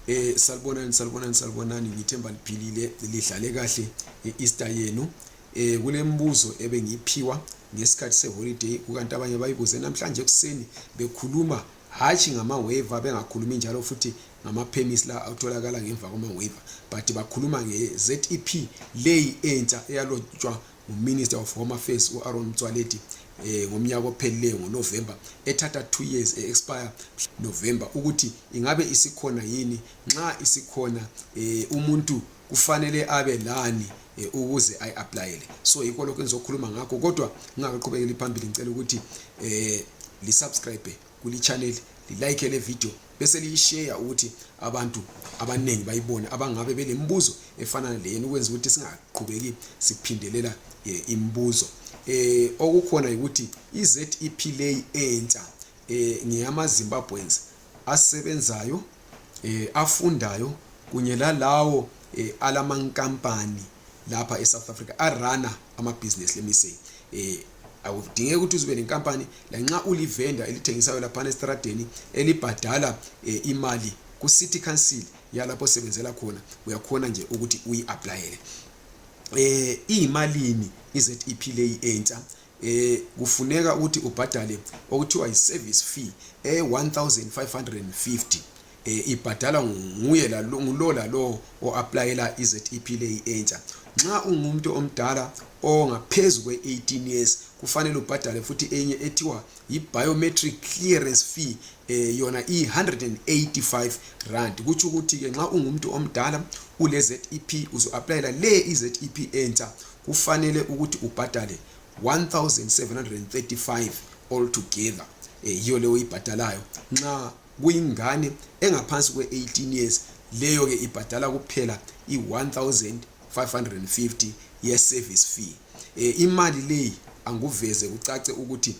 eh salibonani salibonani salibonani ngithemba liphilile lidlale kahle i-easter yenu eh kulembuzo ebengiyiphiwa ngesikhathi seholiday kukanti abanye bayibuze namhlanje ekuseni bekhuluma hatshi ngama-waiver bengakhulumi njalo futhi ngama-pemis la atholakala ngemva kwama-waiver but bakhuluma nge-zep leyi entsha eyalotshwa nguminister of home affairs u-aron mtswaledi eh, ngomnyaka ophelileyo ngonovember ethatha two years e-expire november ukuthi ingabe isikhona yini nxa isikhona eh, umuntu kufanele abe lani eh, ukuze ayi-aplayele so yikho lokho engizokhuluma ngakho kodwa ngingakaqhubekeli phambili ngicela ukuthi eh, lisubscribe kulichaneli lilike le video bese liyisheya ukuthi abantu abaningi bayibone abangabe belembuzo efana leyeni ukwenza ukuthi singaqhubeki siphindelela eh, imibuzo eh okukhona ukuthi iZEP lay entsha eh ngiyama Zimbabweans asebenzayo eh, afundayo kunye lalawo eh, alamankampani lapha eSouth Africa arana amabhizinesi lemiseni eh awudingeki ukuthi uzube nenkampani lanxa ulivenda elithengisayo laphana esitradeni elibhadala eh, imali ku-city council yalapho osebenzela khona uyakhona nje ukuthi uyi-aplayele eh iyimalini i-ZEP leyi entsha eh kufuneka ukuthi ubhadale okuthiwa yi service fee e 1550 eh ibhadala nguye la ngulo la lo oapplyela iZEP leyi entsha nxa ungumuntu omdala ongaphezulu kwe 18 years kufanele ubhadale futhi enye ethiwa yi biometric clearance fee eh yona i 185 rand kuthi ukuthi ke nxa ungumuntu omdala ule ZEP uzo applyela le iZEP entsha kufanele ukuthi ubhadale 1735 all together eh, yiyo leyo oyibhadalayo nxa kuyingane engaphansi kwe-18 years leyo ke ibhadala kuphela i-1550 ye-service fee eh, imali leyi anguveze kucace ukuthi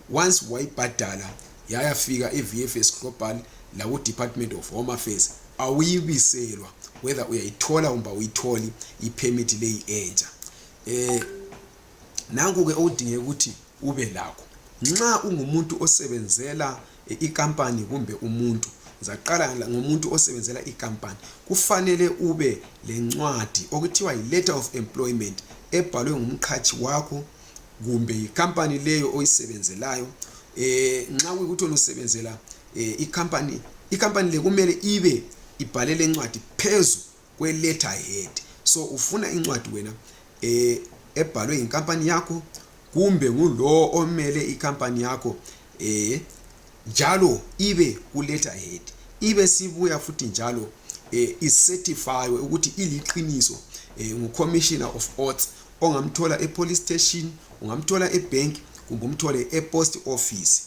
once wayibhadala yayafika evfs global lakudepartment of home affairs awuyibiselwa whether uyayithola kumbe awuyitholi ipermit leyi entsha um nanku-ke okudingeka ukuthi ube lakho nxa ungumuntu osebenzela eh, ikampani kumbe umuntu zaqala ngomuntu osebenzela ikampani kufanele ube lencwadi okuthiwa yi-letter of employment ebhalwe ngumqhatshi wakho kumbe yikhampani leyo oyisebenzelayo eh nxa kuyikuthi usebenzela eh, ikhampani ikhampani le kumele ibe ibhalele incwadi phezu kwe letter head so ufuna incwadi wena eh ebhalwe yinkampani yakho kumbe ngulowo omele ikhampani yakho eh njalo ibe ku letter head ibe sibuya futhi njalo eh icertify ukuthi iliqiniso eh, ngu commissioner of oaths ongamthola epolice station ungamthola ebank kumbe umthole epost office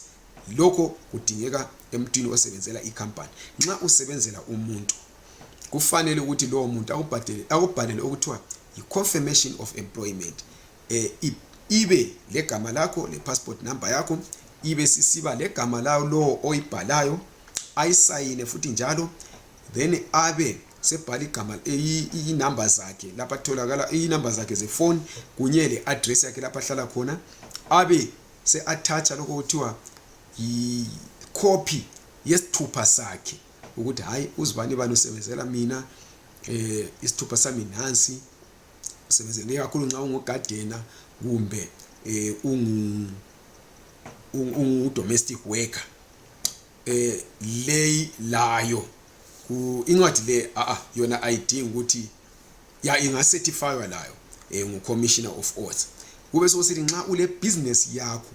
lokho kudingeka emntwini osebenzela icompany nxa usebenzela umuntu kufanele ukuthi lowo muntu akubhalele okuthiwa yi-confirmation of employment eh, ibe legama lakho le-passport number yakho ibe sisiba legama lawo lowo oyibhalayo ayisayine futhi njalo then abe sebhala igama inumber zakhe lapha atholakala inumber zakhe zefoni kunye le address yakhe lapha ahlala khona abe se-atthatsha lokho kuthiwa yikhophi yesithupha sakhe ukuthi hhayi uzibani bani usebenzela mina eh isithupha sami nansi usebenzele kakhulu nxa ungugadena kumbe eh ungu ungu domestic worker eh lay layo ku incwadi le a a yona ayidingi ukuthi ya ingacertifywa layo eh, ngu commissioner of oaths kube sokusithi nxa ule business yakho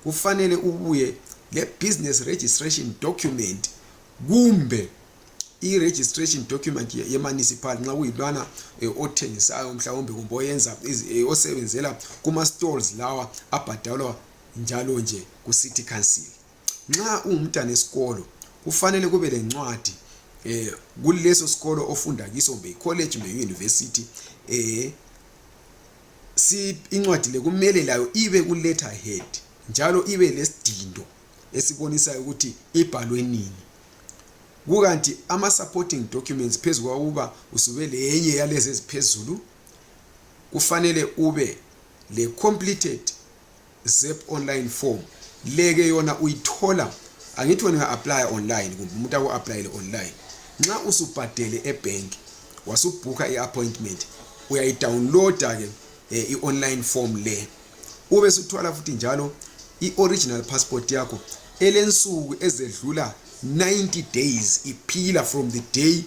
kufanele ubuye le business registration document kumbe i-registration document ye-municipal nxa kuyilwana eh, othengisayo mhlawumbe kumbe oyenza eh, osebenzela kuma-stalls lawa abhadalwa njalo nje ku-city council nxa ungumntana esikolo kufanele kube lencwadi eh kuleso sikolo ofunda kiso kumbe college kumbe university eh si incwadi le kumele layo ibe ku letter head njalo ibe lesidindo esibonisayo ukuthi ibhalwe nini kukanti ama supporting documents phezu kwakuba usube lenye yalezi eziphezulu kufanele ube le completed zep online form leke yona uyithola angithi wena uya-aplya online kumbe umuntu aku-aplayele online nxa usubhadele ebhenki wasubhukha i-appointment uyayidownloada-ke um eh, i-online form le ube suthwala futhi njalo i-original passport yakho elensuku ezedlula 90 days iphila from the day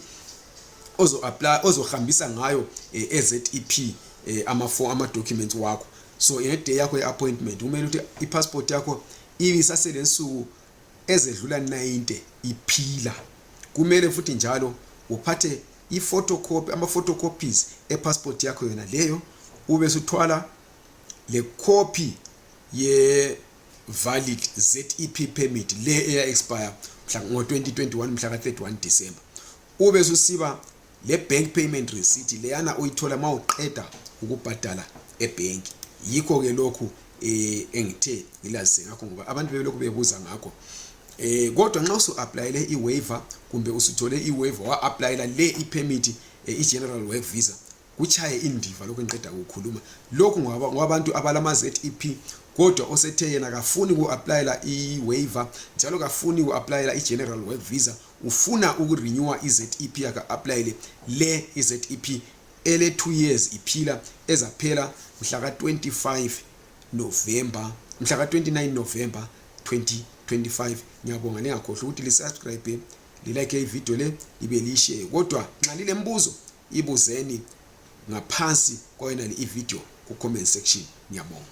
ozohambisa ngayo um eh, ezep um eh, ama-documents wakho so ngeday yakho ye-appointment kumele ukuthi i-passport yakho ibe isasele nsuku ezedlula 90 iphila kumele futhi njalo uphathe i-photocopy ama-photocopies e-passport yakho yona leyo ube suthwala le copy ye-valid zep permit le eya-expire ngo-2021 mhla ka-31 december ube susiba le bank payment receipt leyana oyithola ma uqeda ukubhadala ebhenki yikho ke lokhu eh engithe ngilazise ngakho ngoba abantu bebelokhu bebuza ngakho eh kodwa nxa usu applyele i waiver kumbe usuthole i waiver wa applyela le i permit eh, i general work visa kuchaye indiva lokho ngiqeda ukukhuluma lokhu ngwabantu abalama ZEP kodwa osethe yena kafuni ku applyela i waiver njalo kafuni ku applyela i general work visa ufuna ukurenewa i-zep yakhe a-aplayele le i-zep ele 2 years iphila ezaphela mhla ka-25 novemba mhla ka-29 novemba 2025 ngiyabonga ningakhohlwa ukuthi lisubscribe lilike ividiyo le libe liyisheye kodwa nxa lilembuzo ibuzeni ngaphansi kwayonale ividiyo ku-comment section ngiyabonga